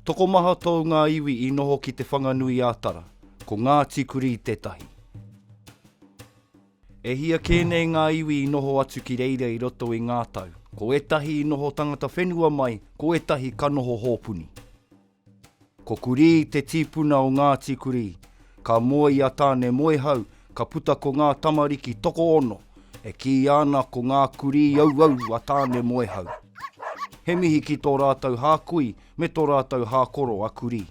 Tokomaha tōu ngā iwi i noho ki Te Whanganui-ā-Tara, ko Ngāti Kurī tētahi. E hia kē nei ngā iwi i noho atu ki reira i roto i ngā tau. Ko ētahi i noho tangata whenua mai, ko ētahi ka noho hōpuni. Ko Kurī te tīpuna o Ngāti Kurī. Ka moe i a Tāne Moehau, ka puta ko ngā tamariki tokoono, e kīia ana ko ngā kurī auau a Tāne Moehau. He mihi ki tō rātou hākui me tō rātou hākoro a Kurī.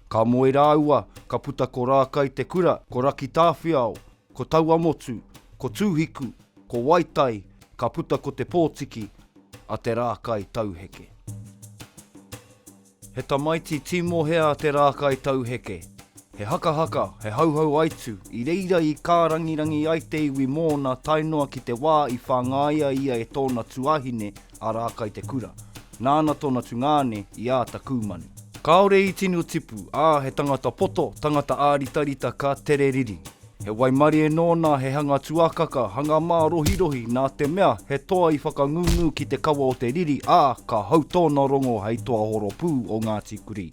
Ka moe rāua, ka puta ko Rākai te kura, ko Rakitāwhiao, ko Tauamotu, ko Tūhiku, ko Waitai, ka puta ko Te Pōtiki a Te Rākai Tauheke. He tamaiti tīmohea a Te Rākai Tauheke. He hakahaka, he hauhau aitu, i reira i kārangirangi ai te iwi mōna tae noa ki te wā i whāngaia ia e tōna tuāhine a Rākaitekura, nāna tōna tungāne i āta kūmanu. Kāore i tino tipu, ā, he tangata poto, tangata āritarita ka tere riri. He waimarie nōna, he hanga tuakaka, hanga mārohirohi, nā te mea, he toa i whakangūngū ki te kawa o te riri, ā, ka hau tōna rongo hei toa horopū o Ngāti Kurī.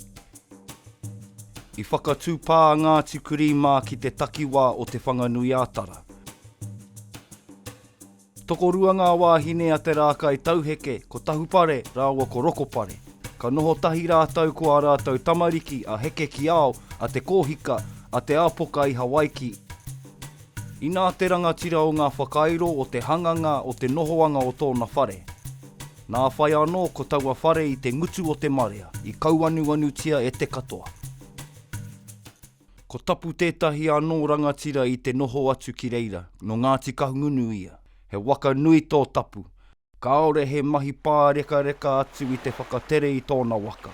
I whakatupā a Ngāti Kurī mā ki te takiwā o Te Whanganui-ā-Tara. Tokorua ngā wāhine a Te Rākai Tauheke, ko Tahupare rāua ko Rokopare. Ka noho tahi rātou ko ā rātou tamariki a Heke-ki-ao, a Te Kōhika, a Te Āpoka i Hawaiki. Inā te rangatira o ngā whakairo o te hanganga o te nohoanga o tōna whare. Nā whai anō ko taua whare i te ngutu o te marea, i kauanuanutia e te katoa. Ko Tapu tētahi anō rangatira i te noho atu ki reira, nō Ngāti Kahungunu ia. He waka nui tō Tapu, kāore he mahi pārekareka atu i te whakatere i tōna waka.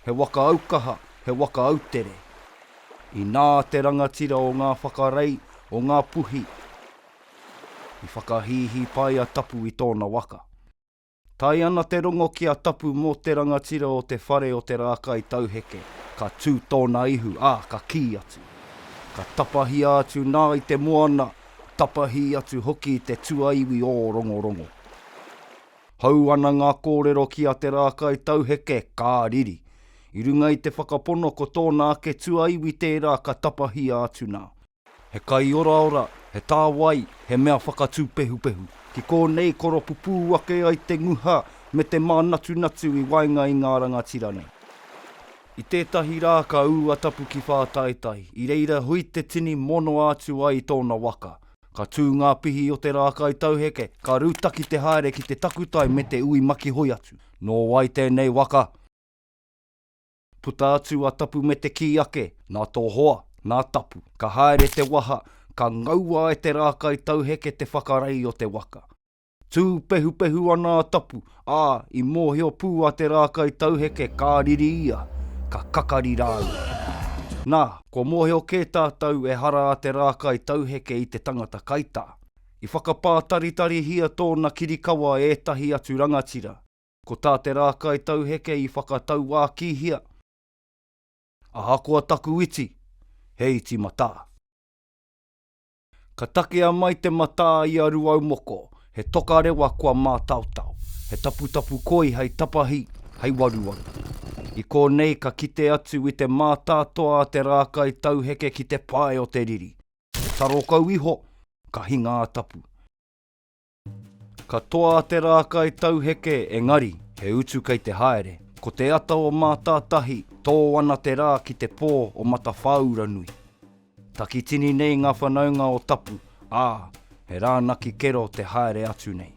He waka aukaha, he waka autere. Inā te rangatira o ngā whakarei, o ngā puhi, i whakahīhī pai a Tapu i tōna waka. Tae ana te rongo ki a Tapu mō te rangatira o te whare o te rākai tauheke, ka tū tōna ihu, ā, ka kī atu. Ka tapahia atu nā i te moana, tapahī atu hoki i te tuaiwi ō rongorongo. Hou ana ngā kōrero ki a Te Rākaitauheke, ka riri. I runga i te whakapono ko tōna ake tuaiwi tērā ka tapahia atu nā. He kai oraora, he tāwai, he mea whakatūpehupehu. Ki kōnei koropupū ake ai te nguha me te mānatunatu i waenga i ngā rangatira nei. I tētahi rā ka ū a Tapu ki Whātaitai, i reira hui te tini monoa atu ai i tōna waka. Ka tū ngā pihi o te rākai tauheke, ka rūtaki te haere ki te takutai me te ui makihoi atu. Nō wai tēnei waka? Puta atu a Tapu me te kī ake, nā tō hoa, nā Tapu. Ka haere te waha, ka ngaua e te rākai tauheke te whakarei o te waka. Tū pehupehu ana a Tapu, ā, i mōhio pū a Te Rākaitauheke ka riri ia, ka kakari rāua. Nā, kua mōhio kē tātou ehara a Te Rākaitauheke i te tangata kaitā. I whakapātaritarihia tōna kirikawa e ētahi atu rangatira. Ko tā Te Rākaitauheke i whakatauākīhia, Ahakoa taku iti, he iti matā. Ka takea mai te matā i a Ruaumoko, he toka rewa kua mātaotao, he taputapu koi hei tapahi, hei waruwaru. I kōnei ka kite atu i te mātātoa a te rākai tauheke ki te pae o te riri, he taro kau iho, ka hinga a Tapu. Ka toa a Te Rākai tauheke engari, he utu kei te haere. Ko te ata o Mātātahi, tō ana te rā ki te pō o Matawhāuranui. Takitini nei ngā whanaunga o Tapu, ā, he rānaki kero te haere atu nei.